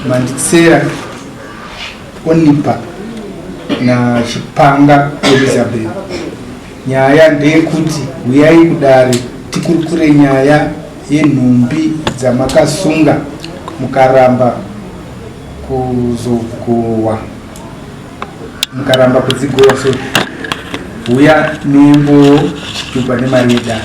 Manditsera Onipa na Chipanga Elizabeth. Nyaya ndeyekuti huyai kudare tikurukure nyaya yenhumbi dzamakasunga mukaramba kuzogohwa mukaramba kudzigohwa so huya nembo chitupa nemari yedare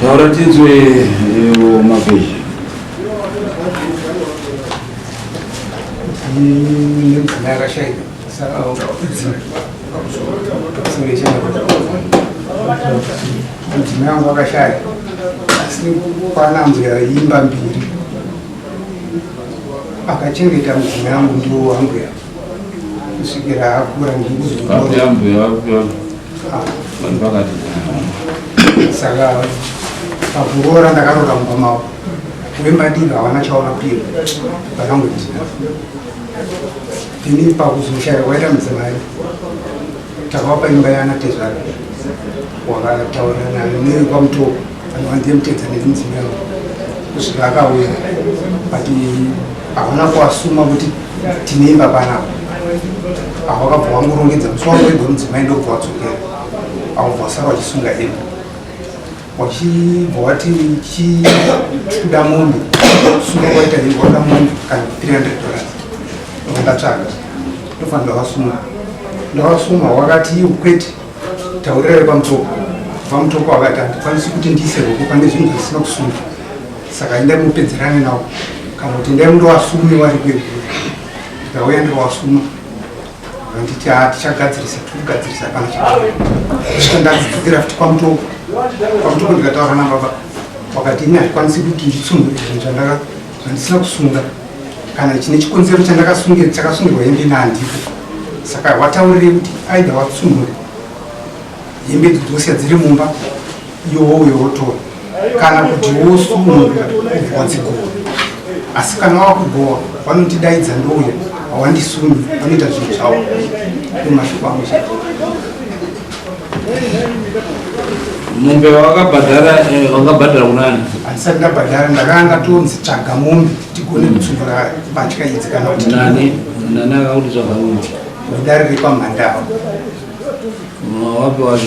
Taura tinzwe ewo mavhezhi. Mudzimai wangu akashaya asi kwana mbuya imba mbiri akachengeta mudzimai wangu ndiwo wambuya kusvikira akura ndikuzoona Papi ambuya vako. saka pakuroora ndakaroora mukoma wako wembadiro havana chaona piro vakangoti ini pakuzoshaya kwaita mudzimai takavapa imba yana tezvara wakataura nayo neikwamutoko Vanhu vandiye mutedza nemudzimu yavo kusvika akauya but havana kuasuma kuti tine imba panapa apo vakabva vangorongedza musi wavo wega mudzimai ndokubva wadzokera vakubva vasara vachisunga imba wachibva wati chikuda mombe sunga kwaita ii kwada mombe kana 300 dollars vandatsvaga ndofanira vasuma ndavasuma wakati iwo kwete taurira repamutoko pamutoko wakati handikwanisi kuti ndiise ruoko pane zvinhu zvisina kusunga saka endai mupedzerane nawo kana kuti endai mundowasume wari kweguru ndikauya ndikawasuma vanditi ha tichagadzirisa tikugadzirisa kana chasvika ndadzidzira futi pamutoko pamutoko ndikataura nababa wakati ini handikwanisi kuti nditsumhuri zvinhu zvandaka Handisina kusunga kana chine chikonzero chandakasungira chakasungirwa hembe ina handiko saka wataurire kuti aida watsungure hembe idzo dzosiya dziri mumba iwouyo wotora kana kuti wosunura wadzigowa asi kana wava kugowa vanotidaidza ndouya hawandisunyi vanoita zvinhu zvavo nemashoko angu mombe wakabhadhara eh, wakabhadhara kunani handisati ndabhadhara ndakanga tonzi tsvaga mombe tigone kutsungura mbatya idzi kana kuti nani nani akakuti tsvaga mombe mudare repamhandava wapi wacho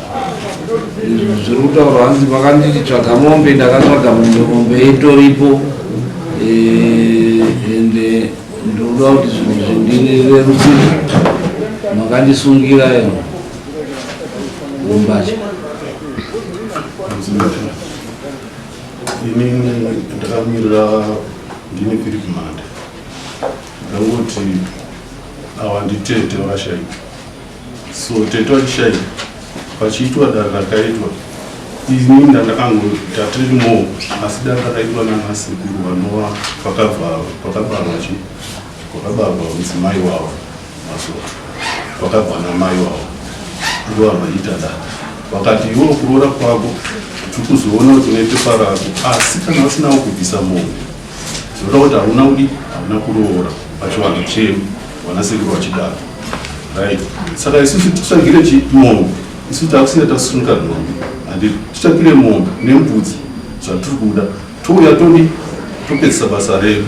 zviri kutaurwa hanzi vakanditi tsvaga mombe ndakatsvaga mombe mombe itoripo ende eh, ndinoda kuti zvinhu zvindirerusire makandisungira eno umbacha ini ndakamirira ndine philip mande ndangoti awa nditete vakashaika So tete wachishaya pachiitwa dare rakaitwa ini ndandakangoita tiri mo asi dare rakaitwa nanasekuru vanova pakabarwa chi kwakabarwa mudzimai wavo maso kwakabva namai wavo ndivo vanoita dare vakati iwo kuroora kwako tiri kuzoona kuti unoite parako asi kana usinawo kubvisa mombe Tinoda kuti hauna kudi hauna kuroora pachivanhu chenu vanasekuru vachidaro right saka isusu titsvagire chimombe isu takusiya tasunuka nhombe handi titsvagire mombe nembudzi zvatiri kuda touya todi topedzisa basa redu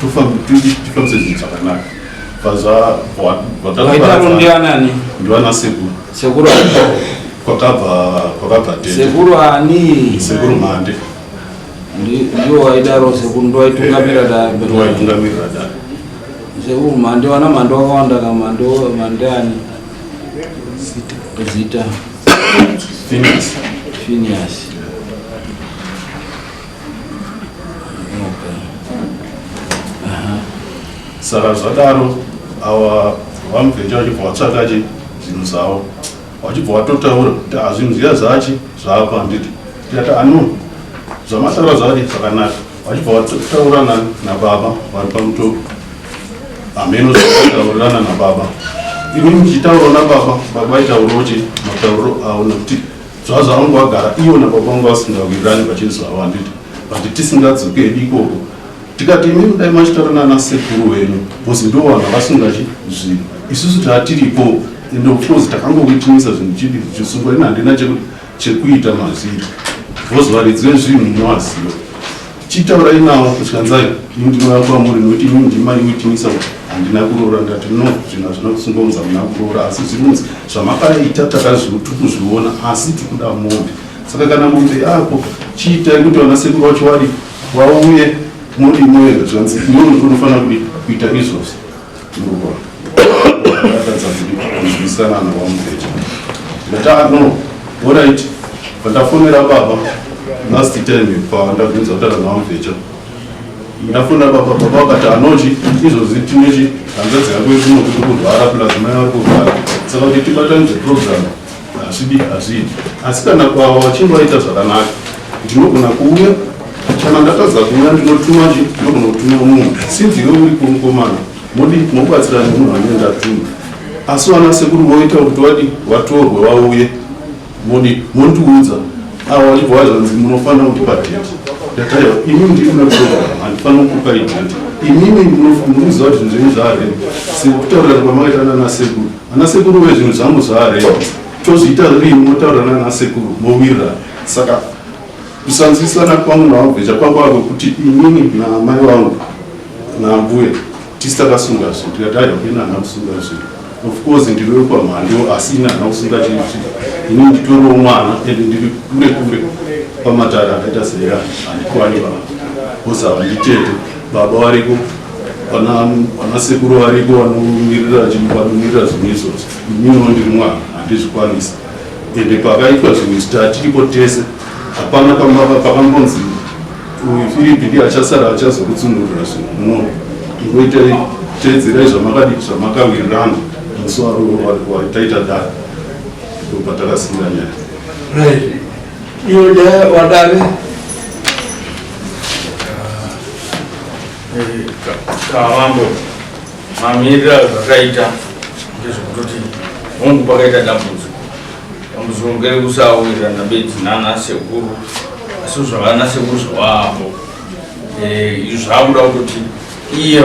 tifambise zvinhu zvakanaka pazvavataanani ndivana sekuru sekuru kwakabva kwakabva sekuru ani sekuru mande ndiwo waidaro sekuru ndiwaitungamira daitungamira da sekuru mhande wana mhande wakawanda ka mhande mhande ani zita finias finias saka zvadaro awa vamubvecha vachibva vatsvakaje zvinhu zvavo wachibva watotaura kuti azvinhu zviya zvachi zvapa handiti ndikati ano zvamataura zvachi zvakanaka wachibva wataurirana nababa vari pamutoko hameno zvataurirana nababa ini muchitaurawo nababa baba aitaurawo chi matauriro avo nekuti zvazo vangu vagara ivo nababa vangu vasingawirirani vachinzi zvavo handiti but tisingadzoke ikoko tikati imimi dai machitaura nana sekuru wenu bcause ndo vanhu avasungachi zvinhu isusu taatiripo ende ofcourse takangokuitinisa zvinhu chidi chisungwa ini handina chekuita mazviri bcause varidzi vezvinhu munovaziva chitaurai navo kutyanzai indinouya kwamuri nokuti imimi ndimaiuitinisa kuti handina kuroora ndati no zvinhu hazvina kusunga unzi hamuna kuroora asi zvirunzi zvamakaita takazvitikuzviona asi tikuda mombe saka kana mombe yako chiitai kuti vana sekuru vacho varipo Wauye modi moyo zvanzi inono kunofanira kudi kuita izvozvi. Ndokwa. Ndakatadza kudi kuzwisana na wamupeja. Ndata no. All right. Pandafonera baba last time pandabvunza kutara na wamupeja. Ndafona baba baba vakati anochi izvozvi tinochi hanzadzi yako ikunokuti kurwara plus mai vari kurwara. Saka kuti tibatanidze program. hazvidi hazvidi asi kana kwava vachinge vaita zvakanaka ndinogona kuuya kana ndatadza kuuya ndinotuma chi ndinogona kutuma munhu sinzi iwe uri kumukomana modi mobatsira nemunhu anenge ndatuma asi vana sekuru voita kuti vadi vatorwe vauye modi mondiudza avo vachibva vazvanzi munofanira kupa date ndataia imi ndiri kunakutoa handifanira kukupa idate imimi munoziva kuti zvinhu zvenyu zvaarema sekutaurirana kwamakaita nana sekuru Ana sekuru we zvinhu zvangu zvare tozviita rini motaura nana sekuru mowira saka kusanzwisana kwangu navabvecha kwakwa kwekuti inini namai vangu nambuya tisi takasunga zvinhu tikati aida kuenda ana kusunga zvinhu of course ndiri wekwamhando asi ini hana kusunga chinhu chii ini nditoriwo mwana and ndiri kure kure pamatare akaita seya handikwani vaa bhozi havanditete baba variko Vana sekuru variko vanomirira vanomirira zvinhu izvozvo. Ininiwo ndiri mwana handizvikwanisa. Ende pakaitwa zvinhu izvi tatiripo tese. Hapana pakangonzi uyu Firipi ndiye achasara achazokutsunurira zvinhu. No. Ingoita teedzerai zvamakadii zvamakawirirana musi waro wataita dare. Ndopatakasiyira nyaya. Right. Iyo nyaya wadare kavambo mamiriro azvakaita ndezvekutoti hongu pakaita dambudziko dambudziko ngerekusawirirana bedzi nana sekuru asi zvavana sekuru zvavaapo eh, izvi zvakuda kutoti iye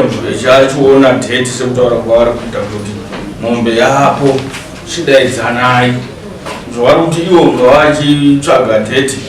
achiona date sekutaura kwavari kuita kuti mombe yapo chidaidzanai zvavari kuti iwo ngavachitsvaga date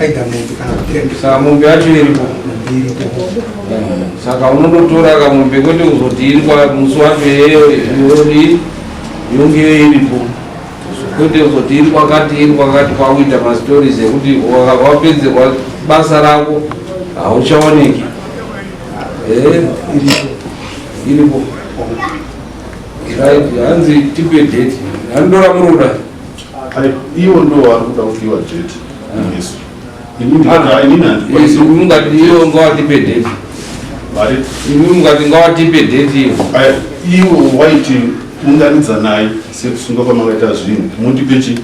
Aida mombe kana kuti rembesa. Saka mombe yacho iripo. Iripo. Saka unototora kamombe kwete kuzoti iri kwa musi wacho yeyo yodi yonge iripo. Kwete kuzoti iri kwakati iri kwakati kwakuita ma stories ekuti wapedzerwa basa rako hauchaoneki. Eh, iripo. Iripo. Right, hanzi tipe date. Handora muroda. Iwo ndo wari kuda kudiwa date muHesu. Ini ndikada ini handikwanisi. Ini mungati iwo ngawatipe date. Vari. Ini mungati ngawatipe date iwo. Iwo waiti unganidza naye sekusunga kwamakaita zvinhu. Mundipe chi?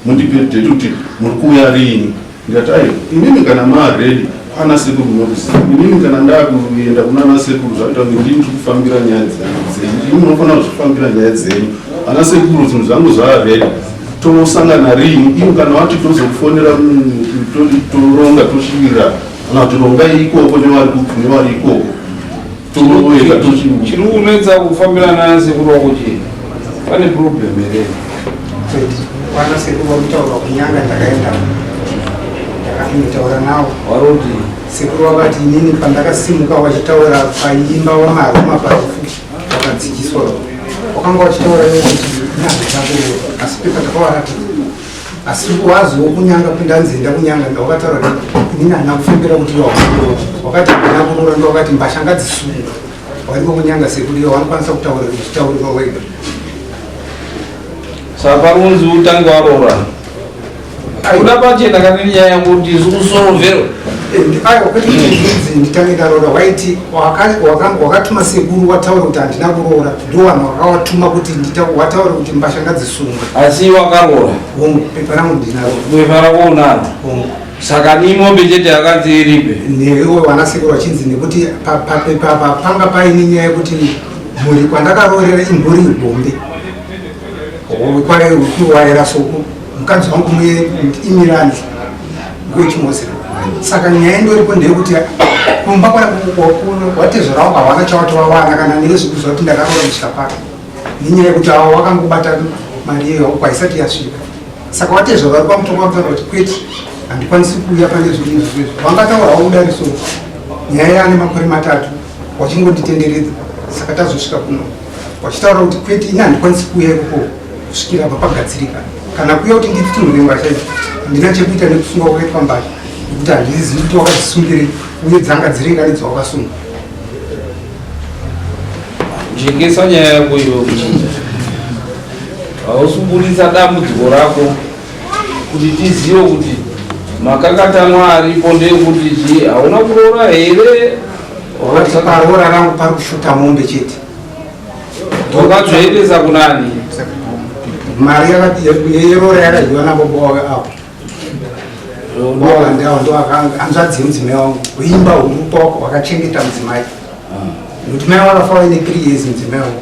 Mundipe date kuti muri kuuya rini? Ndikati aiwa inini kana maa ready kwana sekuru munokuziva inini kana ndakuenda kunana sekuru zvakuita kuti ndini tiri kufambira nyaya dzenyu ini munofanira kuzvifambira nyaya dzenyu ana sekuru zvinhu zvangu zvaa ready tonosangana rini ivo kana vati tozokufonera toronga tosvirira kana kuti rongai ikoko nevari ikoko Tinoenda tuchimuka. Chiri kunetsa kufambirana nasekuru wako chii? Pane problem here? Kwana sekuru vakutaura kunyanga ndakaenda ndakatotaura nawo. Waroti sekuru vakati inini pandakasimuka wachitaura paimba wamaruma pafuti wakadzikiswa wakanga wachitaura nekuti nyange dzako asi pekatakawaratidza asi waziwo kunyanga kundanzi enda kunyanga ndawakataura kuti ini hana kufembera kuti iwe wakuroora wakati hana kuroora ndowakati mbasha ngadzisunga waiko kunyanga sekuti iwe wanokwanisa kutaura uchitaurira wega saka unzi utange waroora uda pachena kana nyaya yangu kuti isu kusorovero ayo kwete kuti nditange ndaroora waiti wakatuma sekuru wataura kuti handina kuroora ndowanhu wakawatuma kuti wataure kuti mbasha ngadzisungwe asi wakaroora hongu pepa rangu ndinaro pepa rako unaro hongu saka ni mombe chete yakanzi iripe newe wanasekuru wachinzi nekuti papepa apa panga paine nyaya yekuti mhuri kwandakaroorera imhuri ibombe kwaikuwaira soku mukadzi wangu muye imirani kuchimozera saka nyaya indoripo ndeyekuti kumba kwatezvarawo kwawana chawatowawana kana neye zvikuziva kuti ndakaroa muchikapaka nenyaya yekuti awo wakangobata mari iyoyo uko haisati yasvika saka watezva vari kwamutongo vakutaura kuti kwete handikwanisi kuuya pane zvinhu izvozvo vangataura waudariso nyaya yaane makore matatu wachingonditenderedza saka tazosvika kuno vachitaura kuti kwete ini handikwanisi kuuya ikoko kusvikira apa pagadzirika kana kuuya kuti nditutunure mbasha idzo handina chekuita nekusunga kwakaitwa mbasha nekuti handizivi kuti wakadzisungirei uye dzanga dziri ngani dzawakasunga jengesa nyaya yako iyo kuchinja hausuburitsa dambudziko rako kuti tizive kuti makakatanwa aripo ndeyekuti chii hauna kuroora here Wacho paroora rangu pari kushuta mombe chete. Ndokadzoendesa kunani? Mari yeroora yakadyiwa nabo bowe apo. Bowe ndawo ndo akanga anzvadzi mudzimai wangu. Uimba huru poko wakachengeta mudzimai. Mudzimai wakafa waine 3 years mudzimai wangu.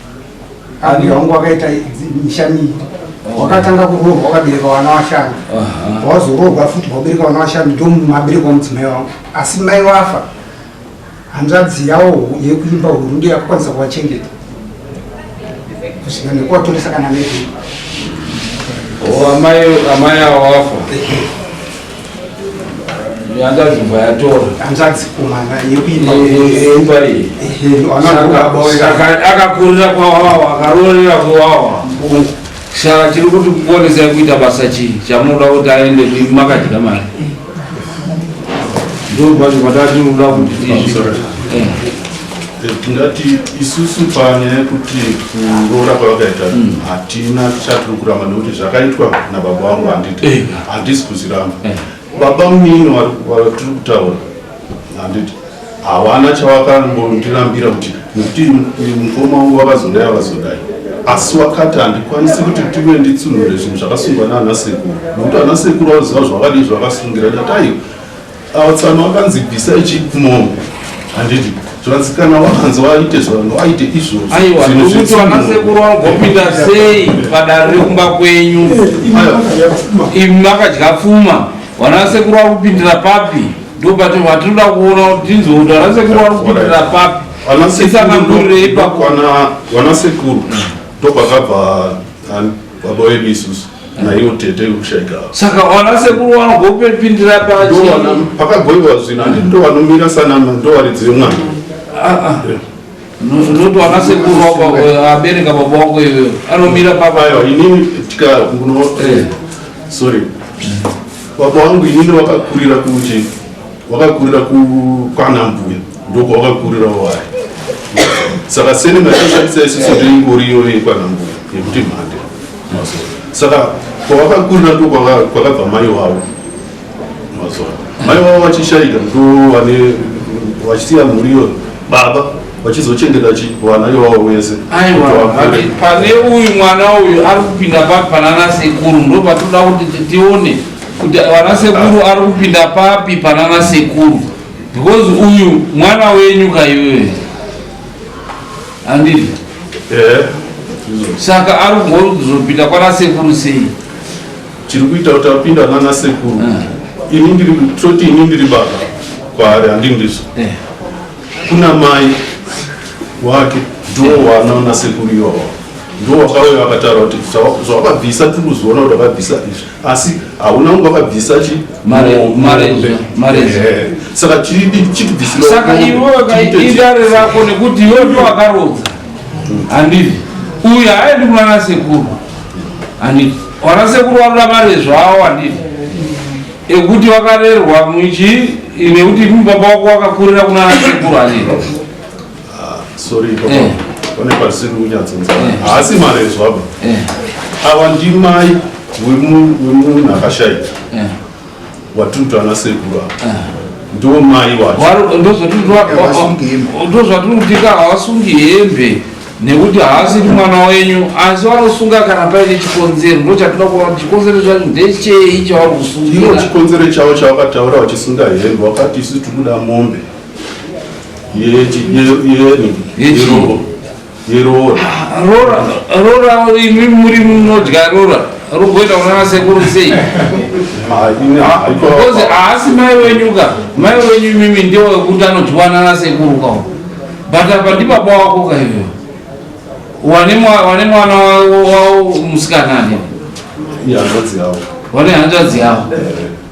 Ani wangu wakaita misha miviri wakatanga kuroorwa wakabereka vana vashanu wazoroorwa futi wabereka vana vashanu ndomabereka wamudzimai wangu asi mai wafa hanzvadzi yawo yekuimba huru ndiyo yakakwanisa kuvachengeta kusvika nekuvatoresa kana neamai oh, awafa yakazvimba yatora hanzvadzi kumana yekuimbariakakurira kwawawa akarorera kwawawa saka tiri kuti kuonesai kuita basa chii chamunoda kuti aende ii makadya mari ndopacho patati uda kuti tizvi tingati isusu panyaya yekuti kuroora kwavakaita hmm. hatina chatiri kuramba nekuti zvakaitwa nababa vangu handiti eh. handisi kuziramba eh. baba munini vatiri kutaura handiti havana chawakambondirambira kuti nekuti mukoma wangu vakazodai avazodai asi wakati handikwanisi kuti tive nditsunhure zvinhu zvakasungwa naana sekuru nekuti ana sekuru vaziva zvavadi zvavakasungira ndataio Awo tsano wakanzi bvisai chip mombe handiti zvikanzi kana wakanzi waite zvanhu waite izvozvo aiwa ndokuti vanasekuru vanogopinda sei padare rekumba kwenyu imi makadya pfuma vanasekuru vari kupindira papi ndopati vatinoda kuona kuti tinzwe kuti vanasekuru vari kupindira papi isangangurirei pakwana vanasekuru ndopakabva baba vedu isusu naiwo tete kushaika saka wana sekuru wano gopepindira pachiwana pakagoiwa zvino handi ndo vanomira sanama ndo varidzi vemwana ah, ah. noti wana sekuru eh, abereka baba wako iwe anomira papayo inini tikamuno eh, sorry baba wangu inini wakakurira kuchi Wakakurira kwana mbuya ndokwawakakurirawo waya saka seni maishandisa isiso ndoingori iyoyo yekwana mbuya yekuti mhande saka kwawakakurira ndokwakabva mai wavo mazuva mai wavo vachishaika ndo vane vachisiya mhuri iyoyo baba vachizochengeta chivana iwawo wese pane uyu mwana uyu ari kupinda papanana sekuru ndo patoda kuti tione kuti vana sekuru ari kupinda papi panana sekuru because uyu mwana wenyu kaiwe andii eh, saka ari kuzopinda kwana sekuru sei chiri kuita kuti apinda nana sekuru eh. ini ndiri toti ini ndiri baba kwaari handi ndiso eh. kuna mai wake ndoo wanaona sekuru iwawa ndoo wakauya akataura kuti zvawakabvisa tiri kuzoona kuti wakabvisa izvi asi hauna kunge wakabvisa saka chitibvisirasaka iwe idare rako nekuti iwe ndo wakarodza handivi uyu haaendi kunana sekuru handivi wana sekuru wanoda mare zvawo handivi ekuti wakarerwa muchi nekuti mubaba wako wakakurira kunana sekuru handivi Ah, sorry papa. Eh. Pane pasiri kunyatsonza. Eh. Haasi marezo apa. Eh. Ava ndimai wemunhu akashaya. Eh. Watutu ana sekuru apa. Eh. Ndiwo mai wacho. Ndozvatiri kutika havasungi hembe nekuti haasiri mwana wenyu asi vanosunga kana paine chikonzero ndo chatinoda kuva kuti chikonzero chacho ndechei chavari kusungira chikonzero chavo chavakataura vachisunga hembe vakati isu tikuda mombe rora imi muri munodya rora rogoita kunana sekuru sei because haasi mai wenyu ka mai wenyu imimi ndiwo wekuti anodyiwa nana sekuru ka but apa ndibaba wako ka ivo wane mwana wavo musikanani wane hanzvadzi yavo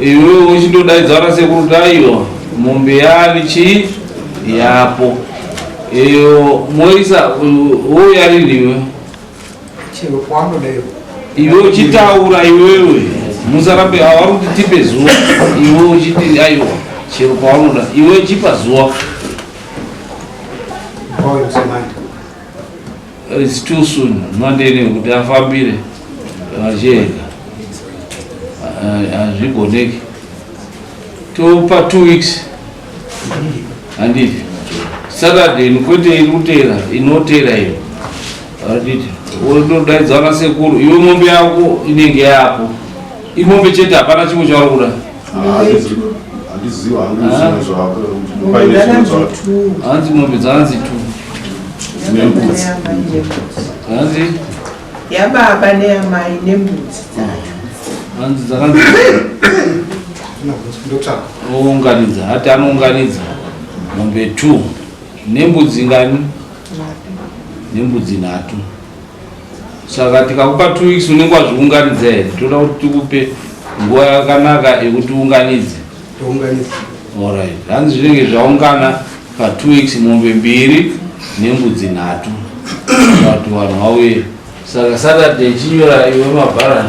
Iwe uchindodaidzana sekuru Taiwa mombe yani chi yapo iyo moisa wouya rini iwe chero kwanoda iwe iwe uchitaura iwewe musarambe avari kuti tipe zuva iwe uchiti aiwa chero kwaunoda iwe chipa zuva Boy, It's too soon mandene kuti afambire vachega hazvigoneki topa two weeks handiti saturday kwete iri kutera inotera iyo handiti wodaidzana sekuru iwe mombe yako inenge yapo imombe chete hapana chimwe chauri kuda hanzi mombe dzaanzi tu hanzi yababa neyamai nembudzi dzacho hanzi dzakanzi ounganidza hati anounganidza mombe two nembudzi ngani nembudzi nhatu saka tikakupa two weeks unenge wazviunganidza here toda kuti tikupe nguva yakanaka yekuti unganidze orit hanzi zvinenge zvaungana patwo weeks mombe mbiri nembudzi nhatu vati vanhu vauye saka saturday chinyora iwe mabharani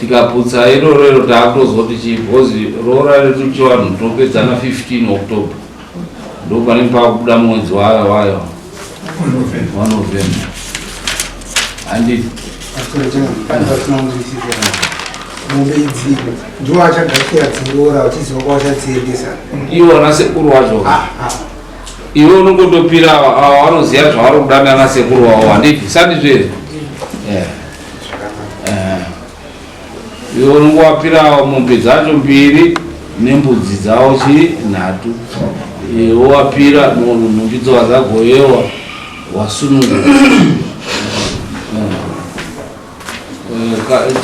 tikaputsa iroro iro taakutozoti chii because roora redu chivanhu topedzana 15 october ndo panenge pakubuda mwedzi wayo wayo wa november handi mombe idziko ndiwo achagakira dziroora vachiziva kwawachadziendesa iwona sekuru wacho ah, ah. iwe unongotopira ava vanoziva zvavari kuda nana sekuru wavo handiti sandizvezvo yeah. iwo ngowapirawo mombe dzacho mbiri nembudzi dzawo chii nhatu wowapira nhumbi dzowa dzagoyewa wasununguka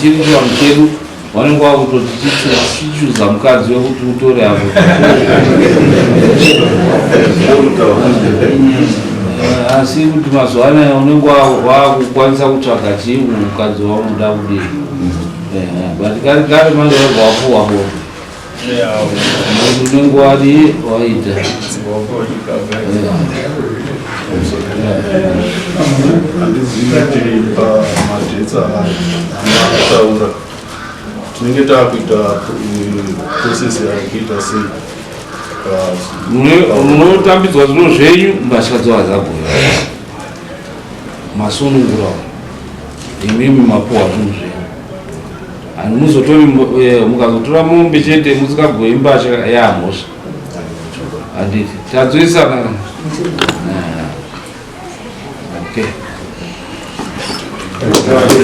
chiri chivanhu chedu vanenge vakutoti chichuza mukadzi wekuti utore hapo asi kuti mazuva anaya unenge wakukwanisa kutsvaga chii mukadzi waunoda kudii but kari kari manje vabva wapuwa bonde tinenge takuita process yakuita sei munotambidzwa zvino zvenyu mbatya dzova dzagoya masunungura imimi mapuwa zvinhu zvenyu muzotori eh, mukazotora mombe chete musikagoyi mbasha yamhosva handiti tadzoisana eh, okay